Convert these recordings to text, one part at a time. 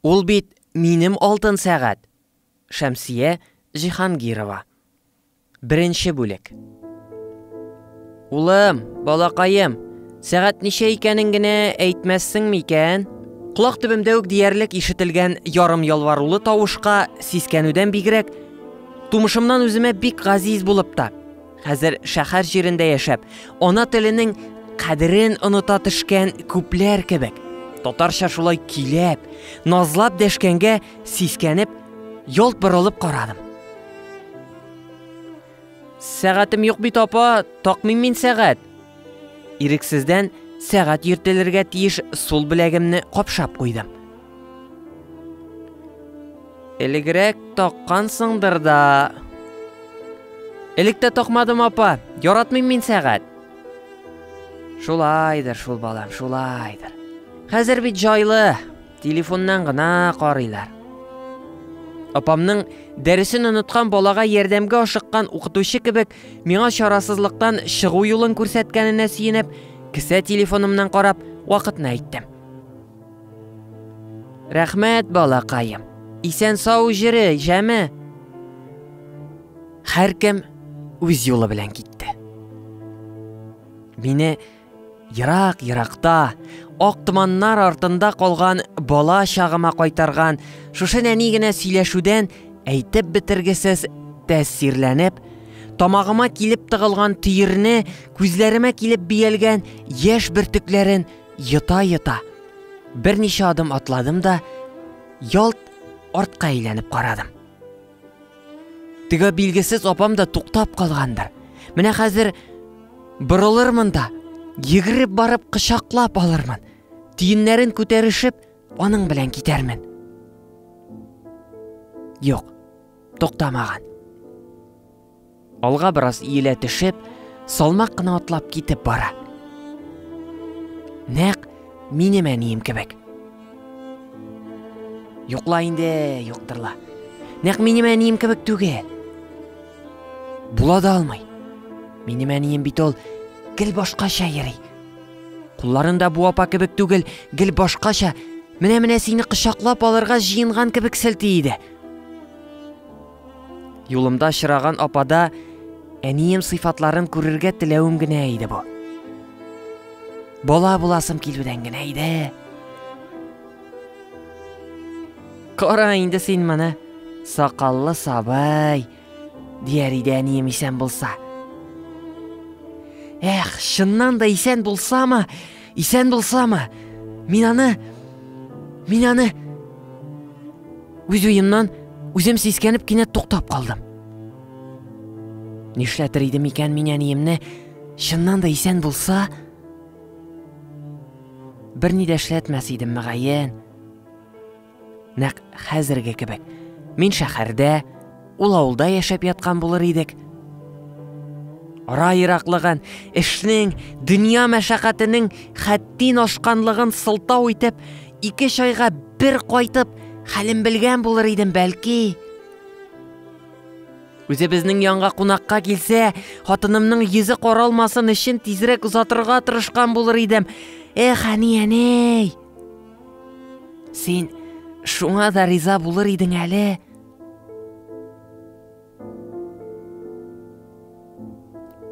Ул бит минем алтын сәгать! Шәмсия Җиһангирова. Беренче бүлек. Улым, балакаем, сәгать ничә икәнен генә әйтмәссең микән? Колак төбемдә үк диярлек ишетелгән ярым ялварулы тавышка сискәнүдән бигрәк, тумышымнан үземә бик газиз булып та, Хәзер шәһәр җирендә яшәп, ана теленең кадерен оныта төшкән күпләр кебек. Татарча шулай киләп, назлап дәшкәнгә сискәнеп, ялт борылып карадым. Сәгатем юк бит, апа, такмыйм мин сәгать. Ирексездән сәгать йөртелергә тиеш сул беләгемне капшап куйдым. Элегрәк таккансыңдыр да. Элек тә такмадым, апа. Яратмыйм мин сәгать. Шулайдыр шул, балам, шулайдыр. Хәзер бит җайлы. Телефоннан гына карыйлар. Апамның дәресен оныткан балага ярдәмгә ашыккан укытучы кебек миңа чарасызлыктан чыгу юлын күрсәткәненә сөенеп, кесә телефонымнан карап, вакытны әйттем. Рәхмәт, балакаем. Исән сау җире, җәме. Һәркем үз юлы белән китте. Мине ерак-еракта, ак томаннар артында калган бала чагыма кайтарган шушы нәни генә сөйләшүдән әйтеп бетергесез тәэсирләнеп, тамагыма килеп тыгылган төерне, күзләремә килеп биялгән яшь бөртекләрен Йота-йота, берничә адым атладым да, ялт артка әйләнеп карадым. Теге билгесез апам да туктап калгандыр. Менә хәзер борылырмын да, йөгереп барып кочаклап алырмын. Тиеннәрен күтәрешеп, аның белән китәрмен. Юк, туктамаган. Алга бераз иелә төшеп, салмак кына атлап китеп бара. Нәк минем әнием кебек. Йокла инде, йоктырла. Нәк минем әнием кебек түгел. Була да алмый. Минем әнием бит ул гел башкача йөри. Кулларында бу апа кебек түгел, гел башкача. Менә-менә сине кочаклап алырга җыенган кебек селти иде. Юлымда очраган апада әнием сыйфатларын күрергә теләвем генә иде бу. Бала буласым килүдән генә иде. Кара инде син моны, сакаллы сабай, дияр иде әнием исән булса. Эх, чыннан да исән булсамы, Исән булсамы? Мин аны... Мин аны... Үз уемнан үзем сискәнеп кинәт туктап калдым. Нишләтер идем икән мин әниемне, чыннан да исән булса, бер ни дә эшләтмәс идем, мәгаен. Нәкъ хәзерге кебек. Мин шәһәрдә, ул авылда яшәп яткан булыр идек. Ара ераклыгын, эшнең, дөнья мәшәкатенең хәттин ашканлыгын сылтау итеп, ике чайга бер кайтып, хәлен белгән булыр идем, бәлки. Үзе безнең янга кунакка килсә, хатынымның йөзе каралмасын өчен тизрәк озатырга тырышкан булыр идем. Эх, әни, әни! Син шуңа да риза булыр идең әле.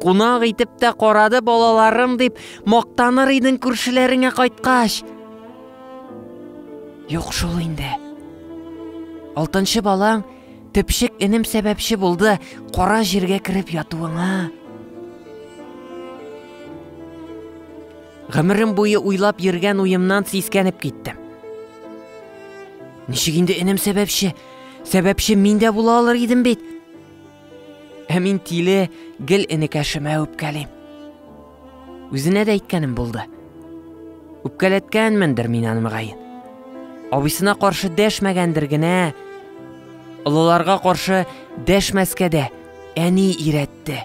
Кунак итеп тә карады балаларым дип мактаныр идең күршеләреңә кайткач. Юк шул инде. Алтынчы балаң төпчек энем сәбәпче булды кара җиргә кереп ятуыңа. Гомерем буе уйлап йөргән уемнан сискәнеп киттем. Ничек инде энем сәбәпче? Сәбәпче мин дә була алыр идем бит. Ә мин тиле гел энекәшемә үпкәлим. Үзенә дә әйткәнем булды. Үпкәләткәнмендер мин аны мөгаен. Абысына каршы дәшмәгәндер генә. Олыларга каршы дәшмәскә дә әни иретте.